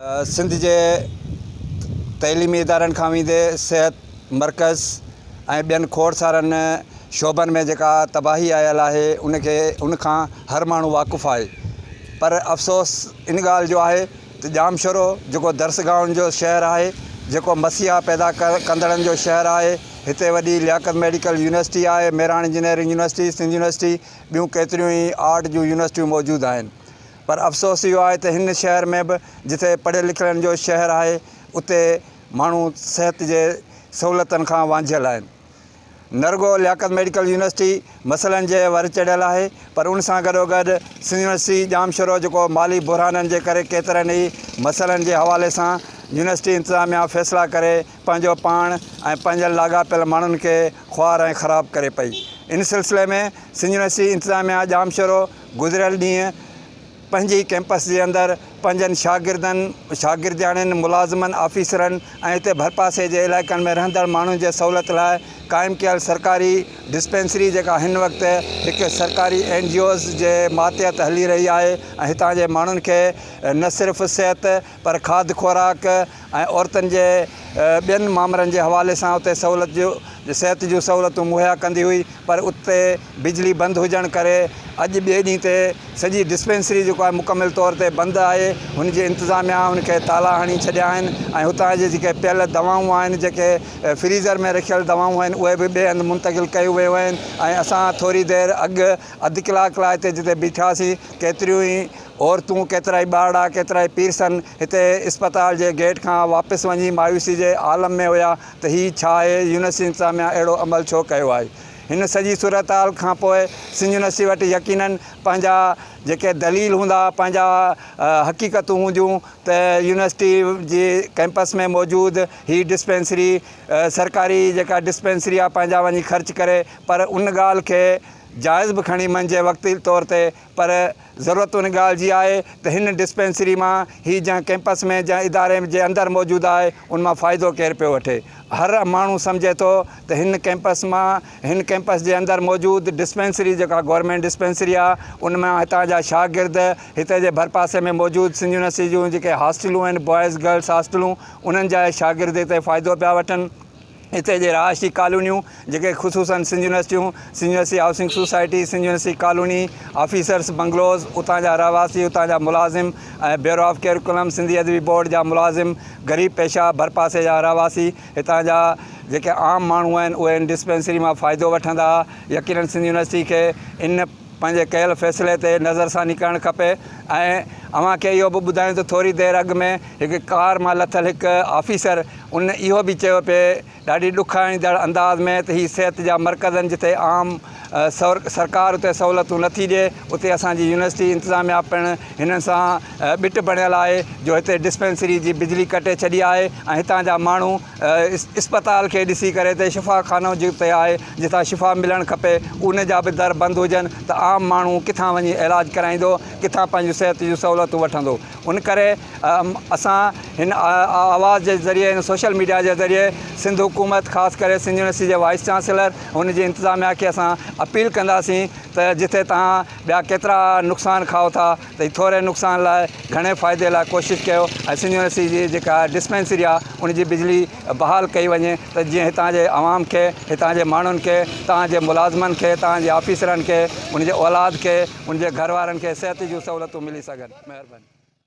سنڌ جي تعليمي ادارن کان ويندي صحت مرڪز ۽ ٻين کوڙ سارن شعبن ۾ جيڪا تباهي آيل آهي ان کي ان کان هر ماڻهو واقف آهي پر افسوس ان ڳالهه جو آهي ته ڄامشورو جيڪو درسگاهن جو شهر آهي جيڪو مسيحا پيدا ڪندڙن جو شهر آهي هتي وڏي لياقت ميڊيڪل يونيورسٽي آهي Mehran engineering university Sindh university ٻيون ڪيتريون ئي آرٽ جون يونيورسٽيون موجود آهن پر افسوس اهو آهي ته هن شهر ۾ به جتي پڙهيل لکيلن جو شهر آهي اتي ماڻهو صحت جي سهولتن کان وانجهيل آهن. نه رڳو لياقت ميڊيڪل يونيورسٽي مسئلن جي ور چڙهيل آهي پر ان سان گڏوگڏ سنڌ يونيورسٽي ڄام شورو جيڪو مالي بحرانن جي ڪري ڪيترن ئي مسئلن جي حوالي سان يونيورسٽي انتظاميا فيصلا ڪري پنهنجو پاڻ ۽ پنهنجن لاڳاپيل ماڻهن کي خوار ۽ خراب ڪري پئي. ان سلسلي ۾ سنڌ يونيورسٽي انتظاميا ڄام شورو گذريل ڏينهن پنهنجي ئي ڪيمپس جي اندر پنهنجن شاگردن، شاگردياڻين، ملازمن، آفيسرن ۽ اتي ڀرپاسي جي علائقن ۾ رهندڙ ماڻهن جي سهولت لاء قائم ڪيل سرڪاري ڊسپينسري جيڪا هن وقت هڪ سرڪاري اين جي اوز جي ماتحت هلي رهي آهي ۽ هتان جي ماڻهن کي نه صرف صحت پر کاڌ خوراڪ ۽ عورتن جي ٻين مامرن جي حوالي سان اتي سهولت جون صحت جون سهولتون مهيا ڪندي هئي پر اتي بجلي بند هجڻ ڪري اڄ ٻئي ڏينهن تي سڄي ڊسپينسري جيڪو آهي مڪمل طور تي بند آهي هن جي انتظاميا هن کي تالا هڻي ڇڏيا آهن ۽ هتان جي جيڪي پيل دوائون آهن جيڪي فريزر ۾ رکيل دوائون آهن اهي به ٻئي هنڌ منتقل ڪيون ويون آهن ۽ اسان ٿوري دير اڳ اڌ ڪلاڪ لاء هتي جتي بيٺاسين ڪيتريون ئي عورتون ڪيترائي ٻارڙا ڪيترائي پيرسن هتي اسپتال جي گيٽ کان واپس وڃي مايوسي جي عالم ۾ هيا ته هي ڇا آهي يونس انتظاميا اهڙو عمل ڇو ڪيو آهي هن سڄي صورتحال کانپوء سنجونسي وٽ يقينن پنهنجا جيڪي دليل هوندا پنهنجا حقيقتون هونديون ته يونيورسٽي جي ڪيمپس ۾ موجود هي ڊسپينسري سرڪاري جيڪا ڊسپينسري آهي پنهنجا وڃي خرچ ڪري پر ان ڳالهه کي جائز به کڻي منجهي وقتي طور تي پر ضرورت ان ڳالهه جي آهي ته هن ڊسپينسري مان هي جنهن ڪيمپس ۾ جنهن اداري جي اندر موجود آهي ان مان فائدو ڪير پيو وٺي. هر ماڻهو سمجهي ٿو ته هن ڪيمپس مان هن ڪيمپس جي اندر موجود ڊسپينسري جيڪا گورنمينٽ ڊسپينسري آهي ان مان هتان جا شاگرد هتي جي ڀرپاسي ۾ موجود سنڌ يونيورسٽي جون جيڪي هاسٽلون آهن بوائز گرلس هاسٽلون انهن جا شاگرد هتي فائدو پيا وٺن. هتي جي رهائشي ڪالونيون جيڪي خصوصن سنڌ يونيورسٽيون، Sindh university housing society, Sindh university colony, officers bungalows, اتان جا رهواسي، اتان جا ملازم ۽ bureau of curriculum, Sindhi Adabi board جا ملازم، غريب پيشه، ڀرپاسي جا رهواسي، هتان جا جيڪي عام ماڻهو آهن اهي هن ڊسپينسري مان فائدو وٺندا يقينن سنڌ يونيورسٽي کي ان پنهنجي ڪيل فيصلي تي نظرثاني ڪرڻ کپي ۽ اوهان کي اهو به ٻڌايون ته ٿوري دير اڳ ۾ هڪ ڪار مان لٿل هڪ آفيسر ان اهو به چيو پي ڏاڍي ڏک آڻيندڙ انداز ۾ ته هي صحت جا مرڪزن جتي عام سرڪار اتي سهولتون نٿي ڏي اتي اسان جي يونيورسٽي انتظاميا پڻ هنن سان ٻٽ بڻيل آهي جو هتي ڊسپينسري جي بجلي ڪٽي ڇڏي آهي ۽ هتان جا ماڻهو اسپتال کي ڏسي ڪري تي شفا خانو جتي آهي جتان شفا ملڻ کپي ان جا به در بند هجن ته عام ماڻهو ڪٿان وڃي علاج ڪرائيندو ڪٿان پنهنجون صحت جون سهولتون وٺندو ان ڪري اسان هن آواز جي ذريعي هن سوشل ميڊيا جي ذريعي سنڌ حڪومت خاص ڪري سنڌ يونيورسٽي جي وائيس چانسلر ان جي انتظاميا کي اسان اپيل ڪنداسين ته جتي تهان ٻيا ڪيترا نقصان کائو ٿا تي ٿوري نقصان لاء گهڻي فائدي لاء ڪوشش ڪيو ۽ سنڌ يونيورسٽي جي جيڪا ڊسپينسري آ ان جي بجلي بحال ڪئي وڃي ته جيئن هتان جي عوام کي هتان جي ماڻهن کي تان جي ملازمن کي تان جي آفيسرن کي ان جي اولاد کي ان جي گهر وارن کي صحت جون سهولتون ملي سگهن مهرباني